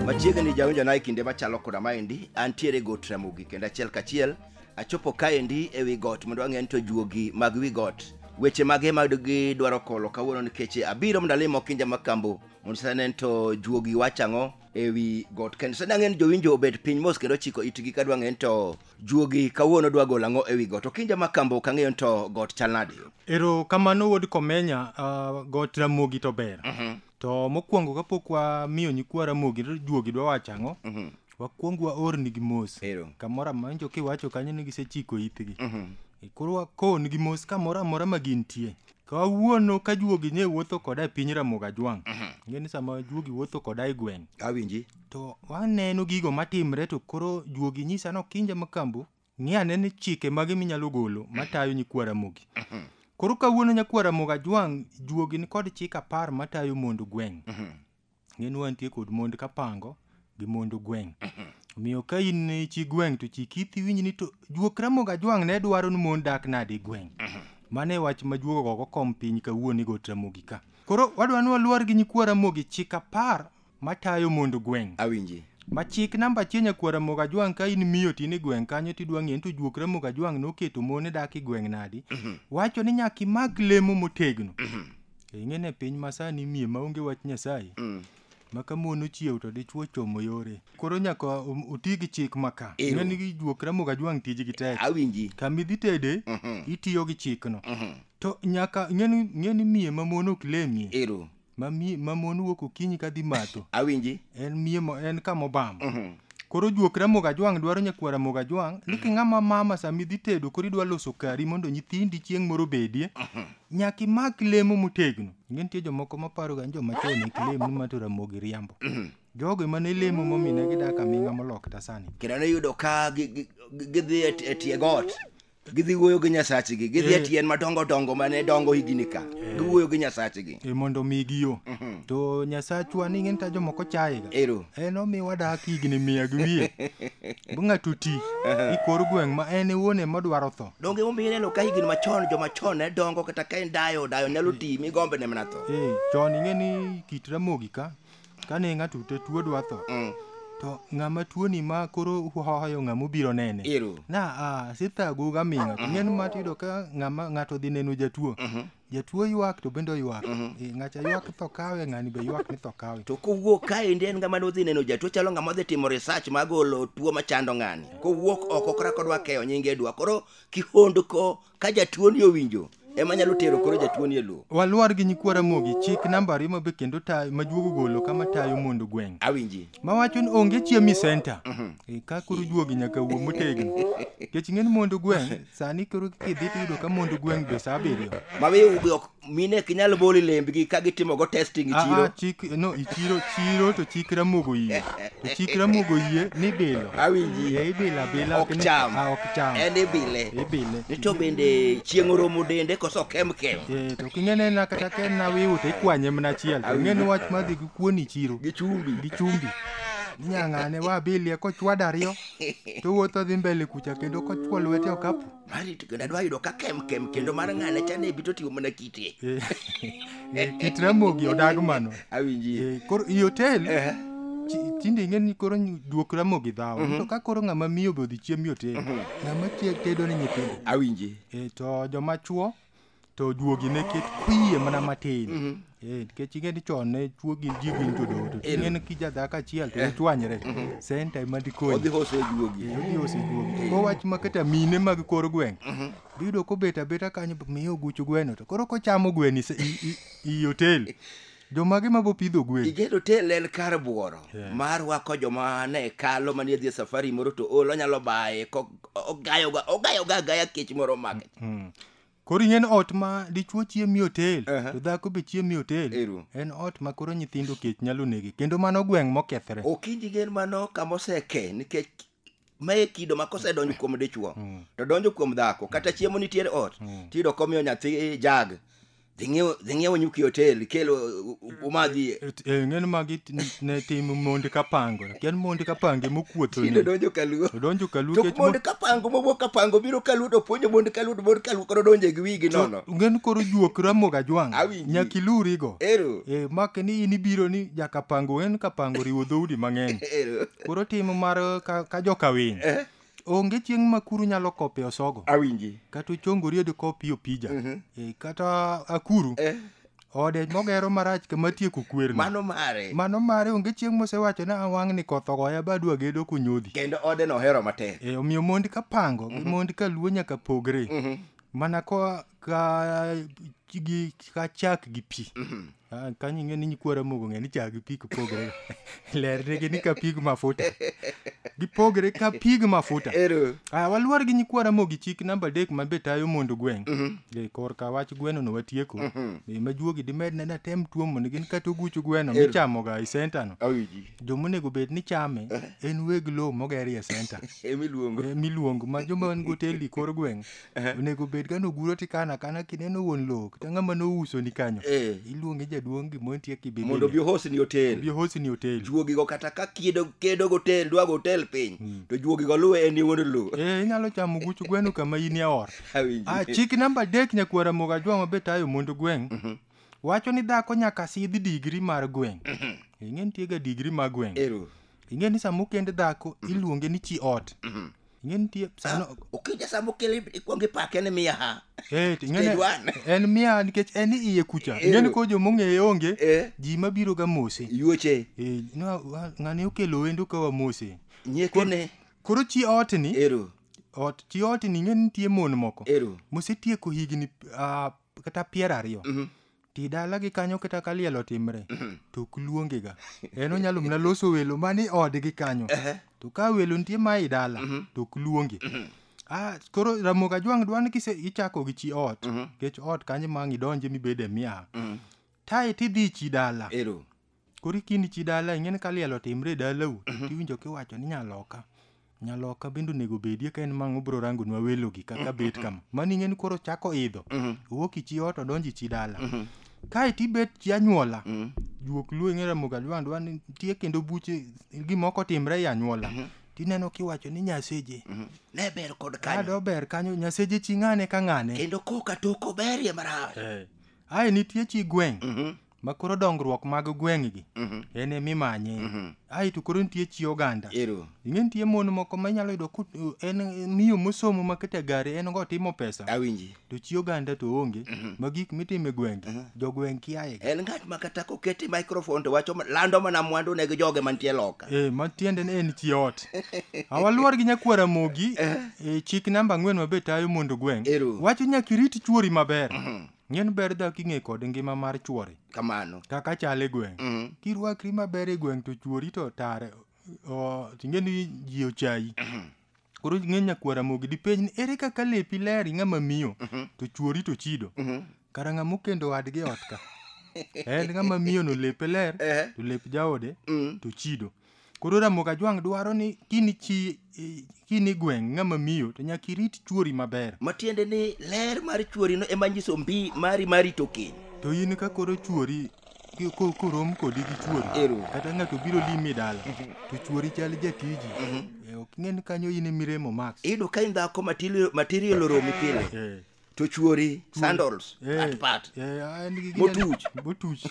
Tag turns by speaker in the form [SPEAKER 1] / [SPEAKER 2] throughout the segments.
[SPEAKER 1] machiegni jawinjo na e kinde machalo koda maendi antiere got ramogi kendo achiel kachiel achopo kaendi e wi got mondo ang'e ni to juogi mag wi got weche mage ma gidwaro kolo kawuono nikech abiro mondo alimo kinja makambo mondo sane to juogi wachang'o ewi got kendo sani ang'e ni jowinjo obet piny mos kendo chiko itgi ka dwa ng'e ni to juogi kawuono dwa golo ang'o ewi got okinja ma kambo ok ang'eyo ni to got chal nade ero kamano
[SPEAKER 2] wuod komenya uh, got ramogi to ber to mokwongo kapok wamiyo nyikwa ramogi to juogi dwa wacho ang'o wakwong waornigi mos Ero. kamoro amawinjo kiwacho kanyo ni gisechiko itgi E, koro wakownigi mos kamoro amora ma gintie kawuono ka juogi ne wuotho koda e piny Ramogi Ajwang', ing'e ni sama juogi wuotho koda e gweng', Awinji. to
[SPEAKER 1] waneno
[SPEAKER 2] gigo matimre to koro juogi nyisa no kinja makambo ng'i ane ni chike mage minyalo golo matayo nyikwa Ramogi. Koro kawuono nyakwa Ramogi Ajwang' juogi nikod chik apar matayo mond gweng'. ing'e ni wantie kod mond kapango gi mond gweng' omiyo ka in ni chi gweng' to chik iti winj ni to juok ramogi ajwang' ne dwaro ni mon dak nade e gweng' mano e wach ma juogo gogo kom piny kawuono i got ramogi ka koro wadwa ni waluor gi nyikwa ramogi chik apar matayo mond gweng' awinji ma
[SPEAKER 1] chik namba
[SPEAKER 2] achiel nyakwa ramogi ajwang' ka in miyo tin e gweng' kanyo tidwa ng'eyo ni to juok ramogi ajwang' noketo mon dak e gweng' nadi wacho ni nyaka imak lemo motegno Eh, Ing'e ne piny masani mie maonge wach Nyasaye. Mm. Ma ka mon ochiew to dichwo chomo yore. Koro nyaka um- uti gi chik ma ka. Ero. Ing'e ni gi juok ramoga jwang' tijgi tek. Awinji. Kama idhi
[SPEAKER 1] tede,
[SPEAKER 2] Mhm. itiyo gi chikno. Mhm. To nyaka ing'e ni- ing'e ni mie ma mon ok lemie. Ero. Ma mie
[SPEAKER 1] ma mon
[SPEAKER 2] wuok okinyi ka dhi matho. Awinji. En mie
[SPEAKER 1] mo en
[SPEAKER 2] kama obam. Mhm. Koro juok ramoga jwang' dwaro nyakwara moga jwang' ni king'ama mama sama idhi tedo koro idwa loso kari mondo nyithindi chieng' moro obedie. nyaka imak lemo motegno ing'e nitie jomoko maparo ga ni joma chon ek lem ni mato ramogi riambo jogo ema ne lemo momine gidak aming'a molok ta sani kendo niyudo ka gi-
[SPEAKER 1] gi- gi- gidhi e t- e tie got gidhi wuoyo gi nyasachgi gidhi e Eh. tien madongo dongo mane dongo higini ka giwuoyo gi nyasachgi e mondo omigi yo
[SPEAKER 2] to nyasachwa ni ing'e nita jomoko chayega ero en omiwa
[SPEAKER 1] dak
[SPEAKER 2] higni mia gi wiye Bo ng'ato ti i kor gweng' ma en e wuon ema odwaro tho. Donge emomiyo ineno ka higni
[SPEAKER 1] machon joma chon ne dongo kata ka en dayo dayo nyalo ti mi gombe ne mana tho. Eh, chon ing'e ni
[SPEAKER 2] kit ramogi ka kane ng'ato te tuo dwa tho. Mm. To ng'ama tuoni ma koro hoyo ng'ama obiro nene. Ero. Na a sithago gaming'a. Ing'e ni mati yudo ka ng'ama ng'ato dhi neno jatuo. jatuo ywak to bende oywak Eh, ng'acha ywak tho kawe ng'ani be ywak ni tho kawe to kowuok kaendi
[SPEAKER 1] en ng'ama nodhi neno jatuo chalo ng'ama odhi timo research magolo tuo machando ng'ani kowuok oko kora kodwa keyo nyinge dwa koro kihondko ka jatuo ni owinjo ema nyalo tero koro jatuo ni e lowo waluor gi nyikwa ramogi
[SPEAKER 2] chik nambari ma be kendo tayo ma juogo golo kama tayo mondo gweng' awinji mawacho
[SPEAKER 1] ni onge
[SPEAKER 2] chiemi center Eh, ka koro juogi nyaka wuo motegno kech ng'eni mondo gweng' sani koro kidhi tiyudo ka mond gweng' be saa abiriyo mabe ok
[SPEAKER 1] mine ok inyal boli lembgi ka gitimogo testing e chiro chik no ichiro
[SPEAKER 2] chiro to chik ramogo yie to chik ramogo yie ni bilo awinji e ibilo
[SPEAKER 1] abila ok
[SPEAKER 2] cham ah, ok
[SPEAKER 1] cham en ibile ibile ni to bende chieng' oromo dende koso kem kem eh to king'ene
[SPEAKER 2] na kata ken na wiu to ikwanye mana achiel to ng'ene wach madhi gi kuoni chiro gi chumbi gi chumbi
[SPEAKER 1] inyang'ane
[SPEAKER 2] wa bilie kochwado ariyo to wuoth odhi mbele kucha kendo kochwo lwete okapu marito kendo adwa yudo
[SPEAKER 1] ka kem kem kendo mar ng'ane cha ne bito tiyo mana kite Eh, eh,
[SPEAKER 2] kit ramogi odag mano awinji Eh, koro
[SPEAKER 1] i hotel
[SPEAKER 2] Eh. chi- tinde ing'e ni koro ny- duok ramogi dhawo to ka koro ng'ama miyo be odhi chiem i hotel ng'ama tie- tedo ni nyithindo awinji Eh, to
[SPEAKER 1] joma
[SPEAKER 2] chuo to juogi ne ket kwiye mana matin mhm. eh, nikech ing'e ni chon ne chuo gin ji gin jodoto eh. ing'e ni kija dhako achiel to eh. ichwanyre mhm. senta ema dikonyiodhi hose juogi
[SPEAKER 1] ko
[SPEAKER 2] wach ma kata mine mag kor gweng' mhm. biyudo kobet abeta kanyo miyo oguchu gweno to koro kochamo gwen i otel jomage ma bopidho gwen igedo tel en kar
[SPEAKER 1] bworo yeah. mar wako joma ne kalo manie dhi e safari moro to ol onyalo baye ogayoga ogayoga agaya kech moro make mm -hmm. Koro ing'e
[SPEAKER 2] ni ot ma dichwo chiemo e otel Aha. to dhako be chiemo e otel Ero. en ot ma koro nyithindo kech nyalo nege kendo mano gweng' mokethre. okinji gen mano
[SPEAKER 1] kama oseke nikech mae kido ma kosedonjo kuom dichwo to donjo kuom dhako kata chiemo nitiere ot tiyudo komiyo nyathi jag dhi ng'iewo- dhi ng'iewo nyuki e hotel ikel u- u- umadhi Eh, ng'en magi
[SPEAKER 2] t- ne tim mondi kapango kian mondi kapange tinde mokuothoni donjo kaluo
[SPEAKER 1] odonjo kaluo to kech mo- mondo
[SPEAKER 2] kapango
[SPEAKER 1] mowuok kapango biro kaluo to puonjo mondo kaluo to mondo kaluo koro donjo e gi wigi nono ng'en koro juok
[SPEAKER 2] ramogo ajwang' Awinji. nyaka ilurigo ero Eh, mak ni in ibiro ni jakapango en kapango riwo dhoudi mang'eny ero koro tim mar ka, ka jokawiny Eh. onge chieng' ma kuru nyalo kope osogo awinji kata
[SPEAKER 1] ochongori odi
[SPEAKER 2] kopi opija Mhm. e, kata akuru eh, ode mogero marach kama tieko kwerno mano mare mano mare onge chieng' mosewacho ni awang' ni koth ogoya badwa gedo kunyodhi kendo ode nohero
[SPEAKER 1] matek e, omiyo mondi ka
[SPEAKER 2] pango gi mondi ka luo nyaka pogre Mhm. mana ko ka gi ka chak gi pi Mhm. Ah, kanyo ing'e ni nyikwara mogo ng'e ni chak gi pi gipogre lernegi ni ka pig mafuta gipogre ka pig mafuta ero Ah, waluor gi nyikwara mogi chik namba adek ma be tayo mondo gweng Mhm. e korka wach gweno no watieko Mhm. e majuogi dimed ne natem tuo mondo gin kata oguch gweno Ero. michamoga e senta no awiji jomonego bed ni chame en weg lowo mogerie senta emiluongo e miluongo ma joma en goteli kor gweng onego bed ka noguro tikano akana kineno wuon lowo kata ng'ama nouso ni kanyo Eh. iluonge jaduong' gimoro nitie kibebe mondo obi ohosni otel
[SPEAKER 1] obi hosi ni otel juogigo kata ka kiedo kedo gotel dwa gotel piny to juogigo luwe en wuon lowo eh inyalo chamo guch
[SPEAKER 2] gweno kama in e ot Awinji. ah chik namba adek nyakwara moga jwa mabe tayo mondo gweng' wacho ni dhako nyaka sidh digri mar gweng' ing'e nitie ga digri mar gweng' ero ing'e ni sama okend dhako iluonge ni chi ot ing'e nitie sano Ukija saa mokele
[SPEAKER 1] ikwongo ipake ni miya ha. Eh, to ing'e Stage ni- one.
[SPEAKER 2] en miya nikech en iye kucha Eh. ing'e ni ko jomong'eye onge Eh. ji mabiro ga mose Yuoche. Eh, no,
[SPEAKER 1] wa- ng'ani
[SPEAKER 2] okelo wendo ka wamose Nyekene.
[SPEAKER 1] koro chi
[SPEAKER 2] otni Ero. ot chi otni ing'e ni nitie mon moko Ero. mosetieko higni ah, kata piero ariyo ti dalagi kanyo kata ka liel otimre to ok luongega en onyalo mana loso welo mani odgi kanyo to ka welo nitie ma i dala to ok luongi Ah, koro ramogi ajwang' dwa ni kise ichako gi chi ot nikech ot kanyo ma ang' idonje mibede miaha tae tidhi chi dala Ero. koro ikindi chi dala ing'e ni ka liel otimre e dalau Mhm. tiwinjo kiwacho ni nyaloka nyaloka bende onego bedie ka en mang'o bro rangonwa welogi kaka bet kama mano ing'e ni koro chako idho Mhm. owuok ichi ot odonji chi dala Mhm. kae tibet chi anyuola Mhm. juok luo ing'e ramogi alwandwa ni nitie kendo buche gimoko timre e anyuola Mhm. tineno kiwacho ni nyaseje Mhm. ne ber kod
[SPEAKER 1] kanyo kado ber kanyo nyaseje
[SPEAKER 2] chi ng'ane ka ng'ane kendo koka tok
[SPEAKER 1] oberie marach ae nitie
[SPEAKER 2] chi gweng' Mhm. ma koro dongruok mag gweng'gi Mhm. en emimanye Mhm. ae to koro nitie chi oganda Ero. ing'e nitie mon moko ma inyalo yudo ku- en miyo mosomo ma kete gari en go timo pesa Awinji. to chi oganda to onge Mhm. ma gik mitimo e gwenge Mhm. jogweng' kiaye En ng'at ma kata
[SPEAKER 1] kokete microphone to wacho ma- lando mana mwandu ne gi joge mantie loka. Eh, ma tiende ni en
[SPEAKER 2] chi ot awaluor gi nyakwara mogi eh, chik namba ang'wen mabe tayo mondo gweng Ero. wacho nyaka irit chuori maber Mhm. Ng'en ber dhako ing'e kod ngima mar chwore. Kamano. Kaka chal
[SPEAKER 1] e gweng'.
[SPEAKER 2] Mm. Kirwakri maber e gweng' to chwori to tare. O, ting'e ni ji ochayi. Koro ng'e nyakwara mogi dipenj ni ere kaka lepi ler ing'ama miyo to chwori to chido. Kara ng'ama okendo wadgi e ot ka. En ng'ama miyo no lepe ler Eh. to lep jaode Mm. to chido. Koro Ramogi Ajwang' dwaro ni kini chi i- kini gweng' ng'ama miyo to nyaka irit chuori maber. matiende ni
[SPEAKER 1] ler mar chuorino ema nyiso mbi mari mar rito keny To in ka koro
[SPEAKER 2] chuori ki- ko- korom kodi gi chuori Ero. kata ng'ato biro limi dala to chuori chal jatiji Eh, ok ing'e ni kanyo in e miremo max. iyudo ka in dhako matili-
[SPEAKER 1] material oromi pile Eh, to chuori sandals Eh, at pat eh, ah, en gi- Motuch.
[SPEAKER 2] motuch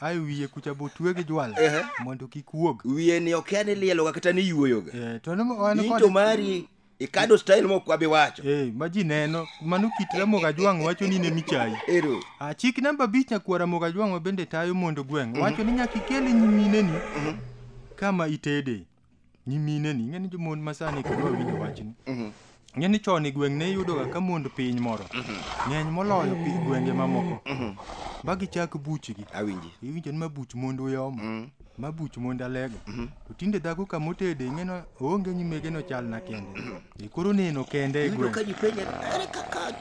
[SPEAKER 2] ae wiye kucha botwe gi jwala Ehe. mondo kik wuog wiye ni okia ni
[SPEAKER 1] lieloga kata ni yuoyoga Eh, to ne- wan in kod- to
[SPEAKER 2] mari
[SPEAKER 1] ikado style mok wabi wacho Eh, ma ji neno
[SPEAKER 2] mano kit ramoga jwang' wacho ni ne michayi ero Ah, chik namba abich nyakwar ramoga jwang' ma bende tayo mondo gweng' wacho ni nyaka ikel nyimineni kama itede nyimineni ing'eni jomon masani koro winjo wachni ing'eni chon e gweng' ne iyudoga ka mond piny moro ng'eny moloyo pi gwenge mamoko ma gichak buchgi awinji iwinjo ni ma buch mond uyoma ma buch mond alego to tinde dhako kamotede ing'eno oonge nyimege nochal
[SPEAKER 1] na
[SPEAKER 2] kende Koro neno kende
[SPEAKER 1] e
[SPEAKER 2] Iyudo gweng'. ka ji penja
[SPEAKER 1] ere
[SPEAKER 2] kaka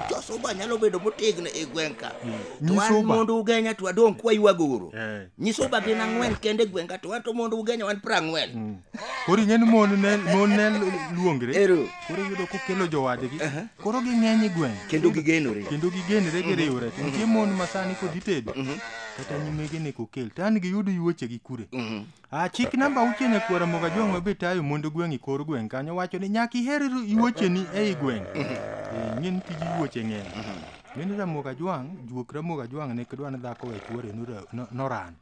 [SPEAKER 2] josuba
[SPEAKER 1] nyalo bedo motegno e gweng' ka to an Nyisuba. mondo ugenya
[SPEAKER 2] to
[SPEAKER 1] adong' kwaywago uru Eh. nyisuba gin
[SPEAKER 2] ang'wen
[SPEAKER 1] kende e gweng' ka to an to mondo ugenya wan prang'wen Mm. Koro ing'e ni
[SPEAKER 2] mon ne mon ne luongre. Ero. Koro iyudo
[SPEAKER 1] kokelo
[SPEAKER 2] jowadgi. Koro ging'eny e gweng'. kendo gigenore Kendo
[SPEAKER 1] gigenre
[SPEAKER 2] giriwre. To nitie mon ma sani kod itedo. Kata nyimege ne kokel. To an giyudo yuoche gi kure. Mhm. Ah, chik namba auchiel e kwara moga jong mabe tayo mondo gweng' i kor gweng' kanyo wacho ni nyaka iher yuocheni ei gweng' Eh, ing'e ni tij yuoche ng'eny ng'eni ramoga jwang' juok ramoga jwang' ne kidwa ni dhako we chuore nora- no- noran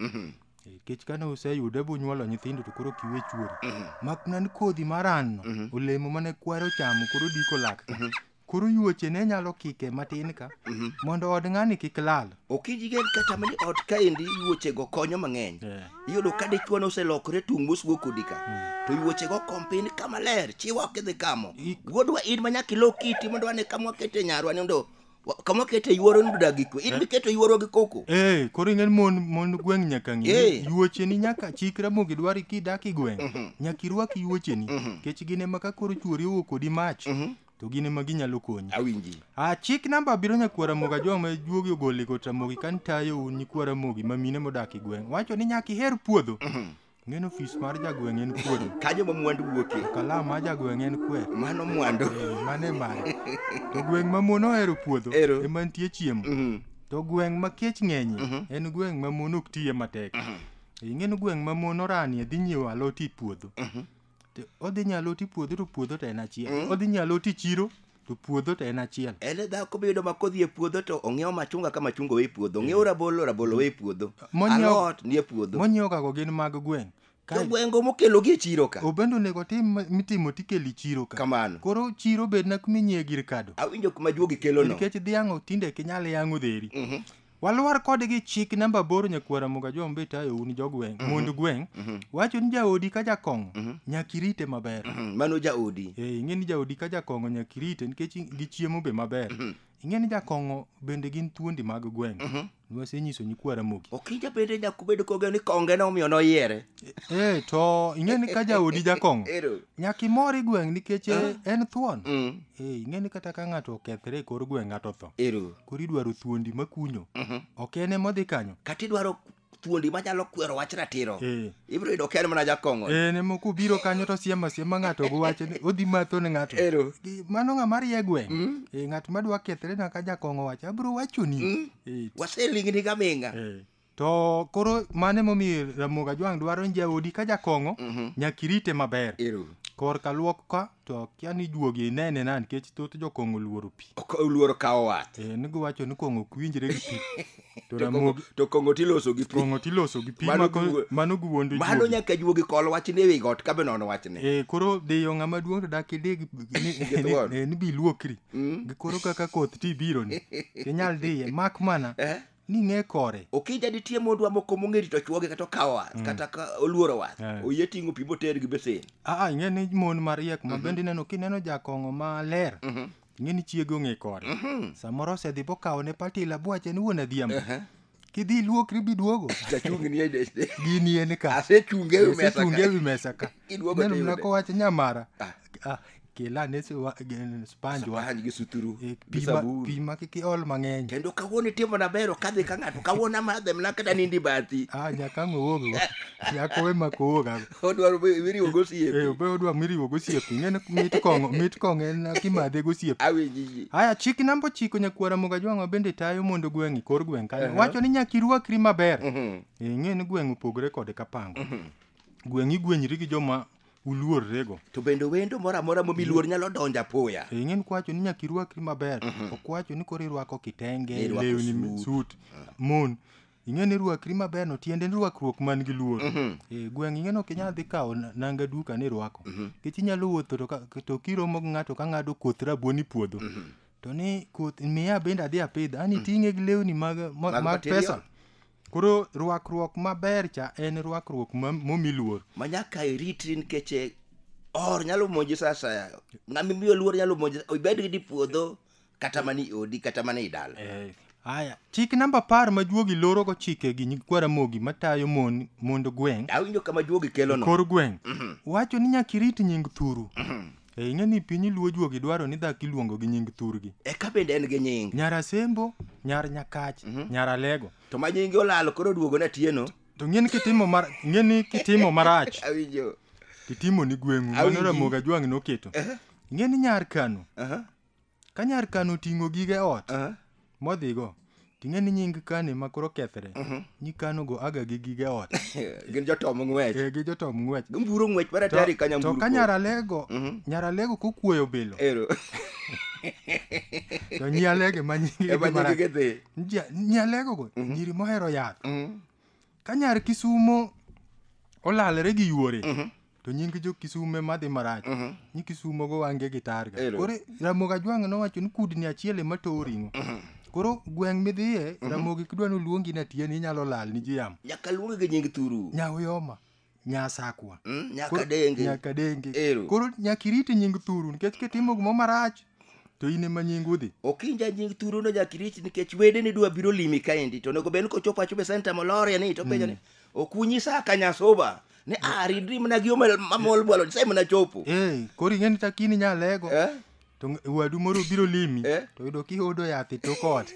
[SPEAKER 2] Eh, kech kane useyude bunyuolo nyithindo to koro kiwe chuori mak nan kodhi maranno olemo mane kwaro chamo koro diko lak koro yuoche ne nyalo kike matin ka mhm. mondo od ng'ani kik lal ok ijigen kata
[SPEAKER 1] mani ot kaendi yuochego konyo mang'eny eh. iyudo ka dichwa noselokore tung' mosgo kodi ka hmm. to yuochego kompin ka maler chiwa ok idhi kamo wuodwa in ma nyaka ilo kiti mondo wane kama wakete nyarwa ni mondo kama wakete yuoro ni dodagi kwe in eh. miketo yuoro gi koko ee eh, koro ing'en mon
[SPEAKER 2] mon gweng' nyaka ng'e yuocheni nyaka chikra mogi dwari kidak i gweng' mhm. nyaka irwak yuocheni mhm. kech gine ma ka koro chuori owuok kodi mach to gin ema ginyalo konyi awinji a chik
[SPEAKER 1] namba abiro
[SPEAKER 2] nyakwara mogi ajwa ma juogi ogole kot ramogi kan tayo un nyikwara mogi ma mine modak e gweng' wacho ni nyaka iher puodho ng'en ofis mar jagweng' en puodho kanyo ma mwandu wuokie
[SPEAKER 1] kalam ma jagweng'
[SPEAKER 2] en kwer mano mwandu Eh,
[SPEAKER 1] mane mare
[SPEAKER 2] to gweng' ma mon ohero puodho Ero. ema nitie chiemo Mhm. to gweng' ma kech ng'enyie en gweng' ma mon ok tiye matek ing'eno gweng' ma mon oranie dhi nyiewo alot e puodho To Odhi nyalo ti puodho to puodho to en achiel. Odhi nyalo ti chiro to puodho to en achiel. en e dhako biyudo ma
[SPEAKER 1] kodhi e puodho to ong'iewo machunga ka machunga owe e puodho ong'iewo rabolo rabolo owe e puodho Monyiewo- alot nie puodho Monyiewo kago gin mag
[SPEAKER 2] gweng'. to Kae gwengo
[SPEAKER 1] mokelogi e chiro ka obendo onego tim ma-
[SPEAKER 2] mitimo tikeli chiro ka. kamano Koro chiro
[SPEAKER 1] bedna
[SPEAKER 2] kuminyie gir kado. awinjo kuma juogi kelono
[SPEAKER 1] Nikech dhiang' tinde
[SPEAKER 2] kinyal yang'o dheri. Mhm. walwar kode gi chik namba aboro nyakuo ramoga jombe itayo un jogweng' mhm. mond gweng' mhm. wacho ni jaodi ka jakong'o mhm. nyaka irite maber mano jaodi
[SPEAKER 1] eh, ing'e ni jaodi ka
[SPEAKER 2] jakong'o nyaka irite nikech gichiemo be maber ing'e ni jakong'o bende gin thuondi mag gweng' nwasenyiso nyikwa ramogi okinja bende nyakubedo
[SPEAKER 1] koge ni konge no omiyo noyiere e to
[SPEAKER 2] ing'e ni ka jaodi jakong'o nyaka imor i gweng' nikech eh, en thuon mm. ing'e ni kata ka ng'ato okethre e kor gweng' ng'ato tho koro idwaro thuondi makunyo mhm. ok en ema odhi kanyo kata idwaro
[SPEAKER 1] thuondi manyalo kwero wach ratiro eh. ibiro yudo ker mana jakong'o eh, en ema kubiro
[SPEAKER 2] kanyo to siema siema ng'ato gi wache odhi matho ne ng'ato mano ng'ama rie gweng' mm. eh, ng'at madwa kethre na ka jakong'o wache abiro wachoni mm. waselingni
[SPEAKER 1] gaming'a To
[SPEAKER 2] koro mano emomiyo Ramogi Ajwang' dwaro ni jaodi ka jakong'o nyaka irite maber. Ero uru. Korka luok ka to akia ni juogi inene na nikech thoth jokong'o oluoro pi. Ok oluoro kawo wath.
[SPEAKER 1] Eh, nigo wacho ni kong'o
[SPEAKER 2] ok winjre gi pi. To To kong'o- Ramogi
[SPEAKER 1] To kong'o tiloso gi pi. kong'o tiloso gi pi Mano
[SPEAKER 2] mako- giwu- mano giwuondo Mano juogi. nyaka juogi kol
[SPEAKER 1] wach ni ewi got ka be non wach ni. Eh, koro dhiyo ng'ama
[SPEAKER 2] duong' to dak idi gi- ni- Gi ni- thuon. eh, ni bi luokri. Mm. Gi koro kaka koth ti biro ni. Inyal dhiye. Mak mana Eh? ni ng'e kore okija ditie mondwa
[SPEAKER 1] moko mong'e rito chwoge kata okawo wath mm. kata oluoro wath yeah. oyie ting'o pi moter gi besen aa ing'e ni mon
[SPEAKER 2] mariek ma mhm. bende ineno kineno jakong'o maler mm -hmm. ing'e ni chiege ong'e kore mm -hmm. samoro osedhi bokawo ne patila bwache ni wuon adhiambo uh -huh kidhi iluokri biduogo
[SPEAKER 1] gini en ka
[SPEAKER 2] asechunge
[SPEAKER 1] e wi mesa
[SPEAKER 2] ka neno mna kowacho nyamara ah. ah, kela ne su- wa- gen- sponge wa Sponge gi suturu
[SPEAKER 1] Eh, gi pi ma- sabun. pi
[SPEAKER 2] ma kik iol mang'eny kendo kawuono itimo
[SPEAKER 1] nabero kadhi ka ng'ato kawuono amadhe mna kata nindi bathi ah, nyaka ang' owuoggo
[SPEAKER 2] nyaka owe mak owuoga odwaro wiriwo
[SPEAKER 1] gosiepe Eh, obe odwa miriwo
[SPEAKER 2] gosiepe ing'eni mit kong'o mit kong'o en kimadhe gosiepe awinjiji haya chik
[SPEAKER 1] namba ochiko
[SPEAKER 2] nyakwara moga jwang'wa bende tayo mondo gweng'i kor gweng' kanyo Aha. wacho ni nyaka irwakri maber ing'e ni gweng' opogore kod kapango gweng' igwenyri gi joma uluorrego. To bende wendo
[SPEAKER 1] moro amora momi luor nyalo donjo apoya. E, ing'eni kwacho ni nyaka
[SPEAKER 2] irwakri maber. Mhm. Ok wacho ni koro irwako kitenge, lewni, suit, mhm. mon. Ing'eni irwakri maber no tiende ni rwakruok man gi luor. Mhm. E, gweng' ing'eni ok inyal dhi kawo nanga duka ni irwako. Nikech inyalo wuotho to kiromo gi ng'ato ka ng'ado koth rabuon ipuodho. To ni koth miya bende adhi apidh. Ani ting'e gi lewni mag pesa. Koro rwakruok maber cha en rwakruok ma- momi luor. ma nyaka iritri
[SPEAKER 1] nikech eh, or nyalo monji sa asaya ng'ama imiyo luor nyalo monji ibed gi dipuodho kata mana i odi kata mana i dala Aya, chik
[SPEAKER 2] namba apar ma juogi lorogo chike gi nyikwa Ramogi matayo mon mond gweng'
[SPEAKER 1] awinjo kama
[SPEAKER 2] juogi kelo
[SPEAKER 1] no
[SPEAKER 2] kor gweng' wacho ni nyaka irit nying thuru E ing'e ni piny luo juogi dwaro ni dhaki luongo gi nying thurgi. Eka bende en gi nying.
[SPEAKER 1] Nyar Asembo,
[SPEAKER 2] nyar Nyakach, mhm. nyar Alego. To ma nyingi olalo
[SPEAKER 1] koro duogo na tieno. To ng'eni kitimo
[SPEAKER 2] mar ng'eni kitimo marach. Awinjo.
[SPEAKER 1] Kitimo ni
[SPEAKER 2] gweng'u mano Ramoga Jwang' noketo. Ng'eni nyar Kano. Aha. Ka nyar Kan oting'o gige ot Aha. modhigo, ting'e ni nying Kan ema koro kethre. Nyi Kan ogo aga gi gige ot. Gin jotom
[SPEAKER 1] ng'wech. Eh, gi jotom ng'wech. Gimburo
[SPEAKER 2] ng'wech mar To, atari
[SPEAKER 1] ka to nyamburu. ka nyar Alego,
[SPEAKER 2] nyar Alego kokuoyo bilo, Ero. to nyi Alege ma nyingi Ema mara- nyingi gidhi. Nji-
[SPEAKER 1] nyi Alego
[SPEAKER 2] go, nyiri mohero yath. Mhm. Ka nyar Kisumo olalre gi yuore, to nying jo kisume madhi marach mhm. ni kisumo go wange gi targa koro ramogi ajwang' nowacho ni kudni achiel ema towo ring'o mhm. koro gweng' midhiye mhm. ramogi kidwa ni oluongi ni atiye ni inyalo lal ni ji yamo nyaka luongi gi nying
[SPEAKER 1] thuru nyaoyoma
[SPEAKER 2] nyasakwa mm, nyaka denge
[SPEAKER 1] nyaka denge
[SPEAKER 2] koro nyaka irit nying thuru nikech kitimo gimo marach to in ema nying udhi okinja nying thuru no
[SPEAKER 1] nyaka irit nikech wede ni dwa biro limi kaendi to onego bed ni kochopo achopo e senta moloria ni to penjo ni mm. okunyisa ka nyasuba ni a ridri mana gi omel mamol bwalo nyasaye mana chopo Eh, koro ing'e ni takini
[SPEAKER 2] nyalego Eh? to ng- wadu moro biro limi Eh? to yudo kihodo yath e tok ot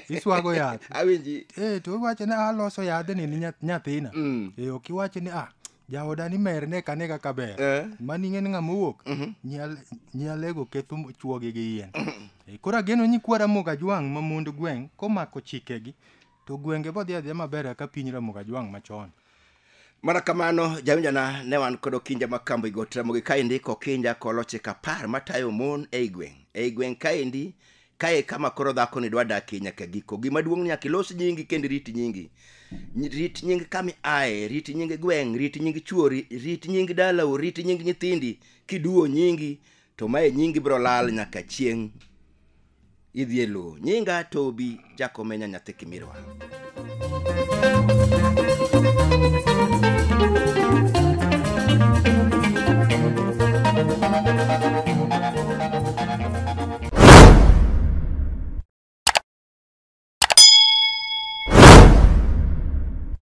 [SPEAKER 2] iswago yath awinji Eh, to
[SPEAKER 1] iwacho ni
[SPEAKER 2] aloso yadhni ni nyath- nyathina Mm. Eh, ok iwacho ni ah jaoda ni mer ne kane kaka ber Eh. mani ing'e ni ng'ama owuok Nyal- nyalego ketho m- chuoge gi yien Eh, koro ageno nyikwara moga jwang' ma mond gweng' komako chikegi To gwenge bodhi adhiya maber kaka piny Ramogi Ajwang' machon. Mana
[SPEAKER 1] kamano jawinjana ne wan kod Okinja ma Kambo i Got Ramogi kaendi Kokinja koloche kapar matayo mon ei gweng'. Ei gweng' kaendi kae kama koro dhakoni dwa dakie nyaka giko. Gima duong' ni nyaka ilos nyingi kendo irit nyingi. Ny- Rit nying kama iaye, rit nying gweng', rit nying chuori, rit nying dalau, rit nying nyithindi. Kiduwo nyingi to mae nyingi biro lal nyaka chieng' idhi e lowo nyinga tobi jakomenya nyathi kimirwa